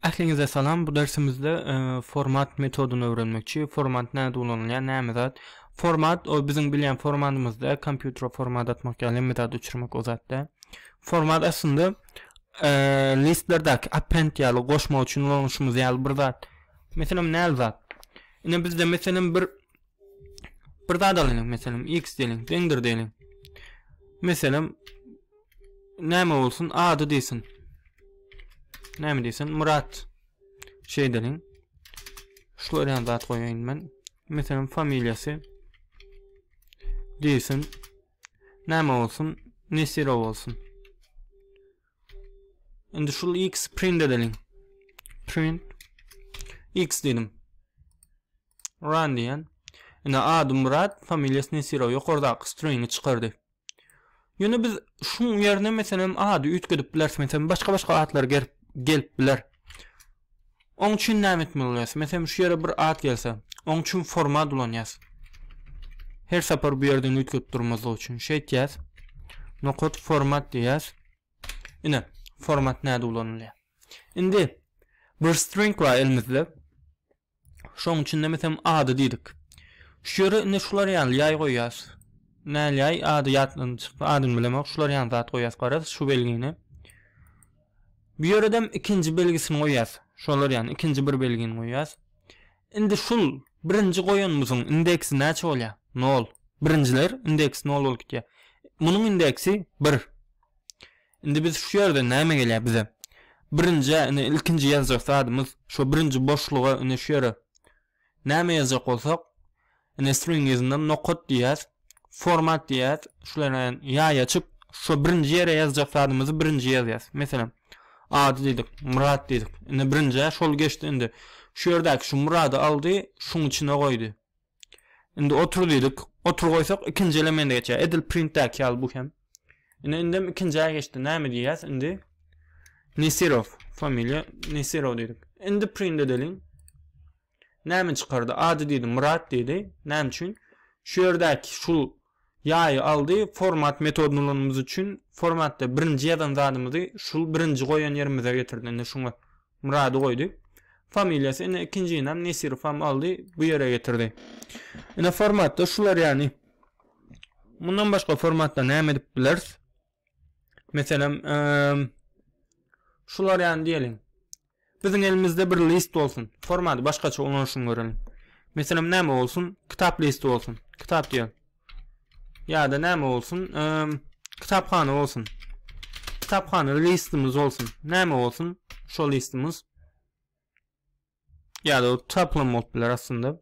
Ähliňize salam bu dersimizde format metodyny öwrenmekçi format näde ulanylýar näme zat format o biziň bilýän formatymyzda kompýutere format atmak ýaly hemme zat uçurmak o zatda format aslynda listlerdäki append ýaly goşmak üçin ulanyşymyz ýaly bir zat meselem näl zat ine bizde meselem bir Bir zat alyň, meselem, X diýeliň, deňdir diýeliň. Meselem, näme bolsun? Ady diýsin. Näme diýsin? Murat. Şeý diýeliň. Şular ýaly zat goýaýyn men. Meselem, familiýasy diýsin. Näme bolsun? Nesiro bolsun. Indi şul X print edeliň. Print X diýdim. Run diýýän. Indi ady Myrat, familiýasy Nesirow ýokardaky stringi çykardy. Ýöne biz şuň ýerine meselem ady üýtgedip bileris, meselem başga-başga atlar gerip gelip biler. Oň üçin näme etmeli bolýas? Meselem şu ýere bir at gelse, oň üçin format ulanýas. Her sapar bu ýerden üýtgedip durmazlyk üçin şeýtýäs. Nokat format diýýäs. Ine, format näde ulanylýar. Indi bir string bar elimizde. Şoň üçin biz hem ady diýdik. Şu ýere indi şular ýaly ýaý goýýas. Näl ýaý ady ýatdan çykdy, adyny bilemok. Şular ýaly zat goýýas garaz şu belgini. Bu ýere hem ikinji belgisini goýýas. Şolar ýaly ikinji bir belgini goýýas. Indi şul birinji goýanymyzyň indeksi näçe bolýar? 0. Birinjiler indeksi 0 bolup gitýär. Munuň indeksi 1. Indi biz şu ýerden näme gelýär bize? Birinjä ine ilkinji ýazjak zadymyz şo birinji boşluga ine şu ýere näme ýazjak bolsak ine string yzyndan nokat diýýäs format diýýäs şulara ýaý açyp şo birinji ýere ýazjak zadymyzy birinji ýazýas meselem ady diýdik myrat diýdik ine birinjä şol geçdi indi şu ýerdäki şu myrady aldy şuň içine goýdy Indi otur diýdik. Otur goýsak ikinji elemende geçýär. Edil printdäki ýaly bu hem. Ine indem ikinjä geçdi. Näme diýýäs indi? Nesirow familiýa Nesirow diýdik. Indi print edeliň. Näme çykardy? Ady diýdi, Murat diýdi. Näme üçin? Şu ýerdäki şu Ýaýy aldy, format metodyny ulanymyz üçin formatda birinji ýazan zadymyzy şul birinji goýan ýerimize getirdi indi şuňa Myrady goýdy familiýasy indi ikinjinam Nesirowam aldy bu ýere getirdi indi formatda şular ýany mundan başga formatda näme edip bileris Meselem, şular ýaly diýeliň. Biziň elimizde bir list bolsun. Formaty başgaça ulanyşyny göreliň. Meselem, näme bolsun? Kitap listi bolsun. Kitap diýelim. Ýa-da näme bolsun? Kitaphana bolsun. Kitaphana listimiz bolsun. Näme bolsun? Şol listimiz. Ýa-da tapylan bolup biler aslynda.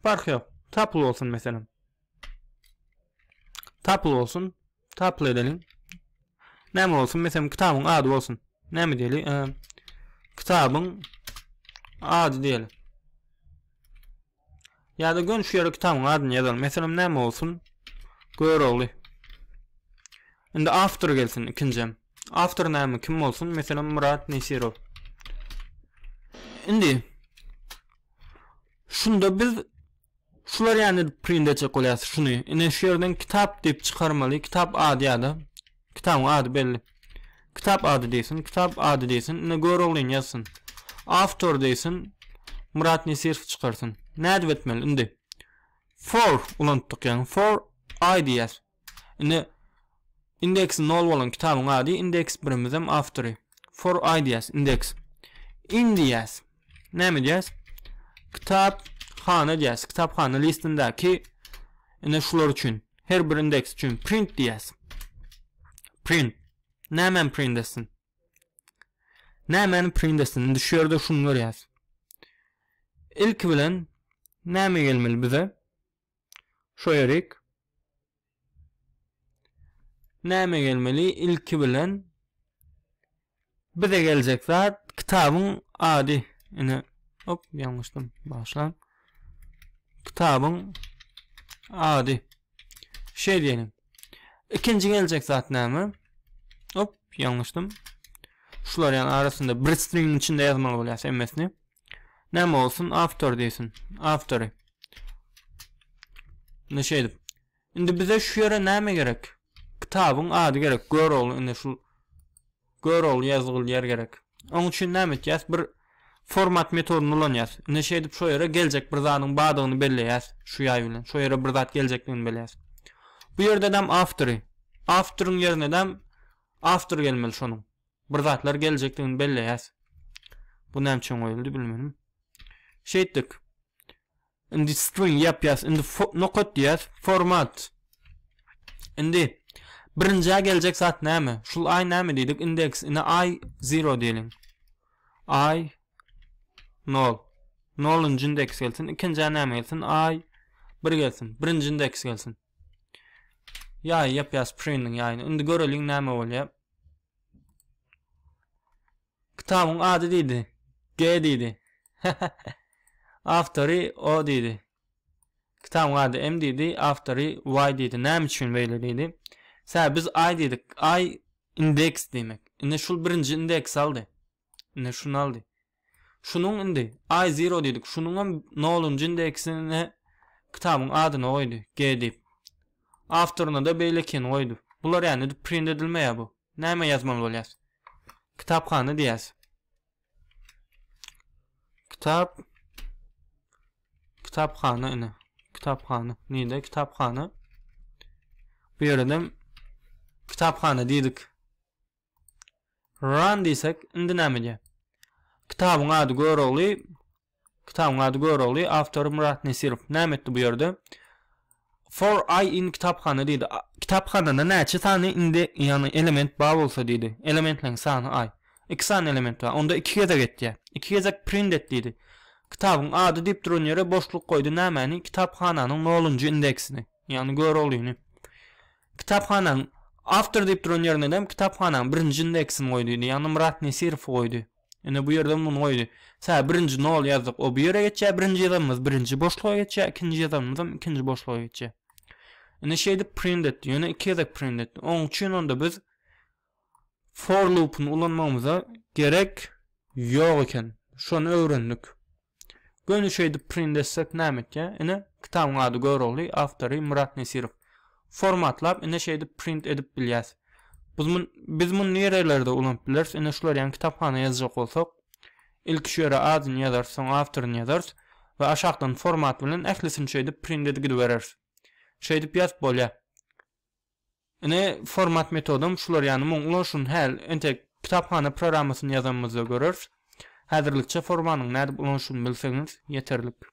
Park yok. Tapıl olsun mesela. Tapıl olsun. Tapıl edelim. Näme olsun? Mesela kitabın adı olsun. Näme diýeli? Ee, kitabın adı diýeli. Ýa-da gön şu ýere kitabyň adyny ýazalyň. Meselem näme bolsun? Görogly. Indi awtor gelsin ikinjem. Awtor näme kim bolsun? Meselem Myrat Nesirow. Indi şunda biz şular ýany print etjek bolýas şuny. Ine şu ýerden kitap diýip çykarmaly. Kitap ady ýa-da Kitabyň ady belli. Kitap ady diýsin, kitap ady diýsin, ine Göroglyny ýazsyn. Awtor diýsin, Myrat Nesirowy çykarsyn. Nädip etmeli indi? For ulanypdyk ýaňy. For I diýýäs. Indi indeksi nol bolan kitabyň ady, indeks birimizem awtory. For I diýýäs, indeks. In diýýäs. Näme edýäs? Kitap hana edýäs. Kitap hana listindäki ine şular üçin. Her bir indeks üçin print diýäs. Print. Näme print etsin? Näme print etsin? Indi şu ýerde şunu görýäs. Ilki bilen näme gelmeli bize? Şoýarik. Näme gelmeli? Ilki bilen bize geljek zat kitabyň ady. Ine, hop, ýalňyşdym. Başlam. Kitabyň ady. Şeýle diýelim. Ikinji geljek zat näme? Hop, ýalňyşdym. Şular ýaly arasynda bir string içinde ýazmaly bolýar MS'ni. Näme bolsun? Awtor diýsin. Awtory. Indi şeýdip. Indi bize şu ýere näme gerek? Kitabyň ady gerek. Görogly indi şu Görogly ýazgyl ýer gerek. Oň üçin näme etýäs? Bir format metodyny ulanýas. Indi şeýdip şu ýere geljek bir zadyň badygyny belleýäs şu ýaý bilen. Şu ýere bir zat geljekdigini belleýäs. Bu ýerde näm awtory. Awtoryň ýerine näm awtor gelmeli şonuň. bir zatlar geljekdigini belleýäs. Bu näme üçin goýuldy bilmedim. Şeýtdik. Indi string ýapýas, indi nokat diýýäs, format. Indi birinjä geljek zat näme? Şul aý näme diýdik? Indeks, indi aý 0 diýeliň. Aý 0. 0-njy indeks gelsin, ikinjä näme gelsin? Aý 1 gelsin, birinji indeks gelsin. Ýaýy ýapýas printiň ýaýyny. Indi göreliň näme bolýar. Kitabyň ady diýdi. G diýdi. Awtory O diýdi. Kitabyň ady M diýdi, awtory Y diýdi. Näme üçin beýle diýdi. Sä biz I diýdik. I indeks diýmek. Indi şul birinji indeks aldy. Indi şuny aldy. Şunuň indi I zero diýdik. Şunuň hem nolunjy indeksine kitabyň adyny goýdy. G diýip. Awtoryna da beýlekini goýdy. Bular ýa-ni print edilmeýär bu. Näme ýazmaly bolýas? Kitaphana diýýäs. Kitap Kitaphana ine. Kitaphana. Nide kitaphana. Bu ýerden kitaphana diýdik. Run diýsek, indi näme edýär? Kitabyň ady Görogly, kitabyň ady Görogly, awtory Murat Nesirow. Näme etdi bu ýerde? For I in kitaphana diýdi. Kitaphanada näçe sany indi, ýagny element bar bolsa diýdi. Elementleriň sany I. Iki sany element bar. Onda iki gezek etýär. Iki gezek print et diýdi. Kitabyň ady diýip duran ýere boşluk goýdy. Nämäni? Kitaphananyň nolunjy indeksini, ýagny Göroglyny. Kitaphananyň awtor diýip duran ýerinedem kitaphananyň birinji indeksini goý diýdi. Ýagny Myrat Nesirowy goýdy. Ine bu ýerdem muny goýdy. Sä birinji nol ýazdyk, o bu ýere geçýär, birinji ýazanymyz birinji boşluga geçýär, ikinji ýazanymyzam ikinji boşluga geçýär. Ine şeýdip print etdi, ýöne iki gezek print etdi. Oň üçin onda biz for loopuny ulanmagymyza gerek ýok eken. Şony öwrendik. Göni şeýdip print etsek näme etýä? Ine kitabyň ady Görogly, awtory Myrat Nesirow. Formatlap ine şeýdip print edip bilýäs. Biz mun biz muny nirelerde ulanyp bileris? Ine şular ýaly kitaphana ýazjak bolsak ilki şu ýere adyny ýazarys soň awtoryny ýazarys we aşakdan format bilen ählisini şeýdip print edip gidibereris. Şeýdip ýazyp bolýa. Ine, format metodam şular, ýagny muň ulanyşyny häl entek kitaphana programmasyny ýazanymyzda göreris. Häzirlikçe formanyň nädip ulanyşyny bilseňiz ýeterlik.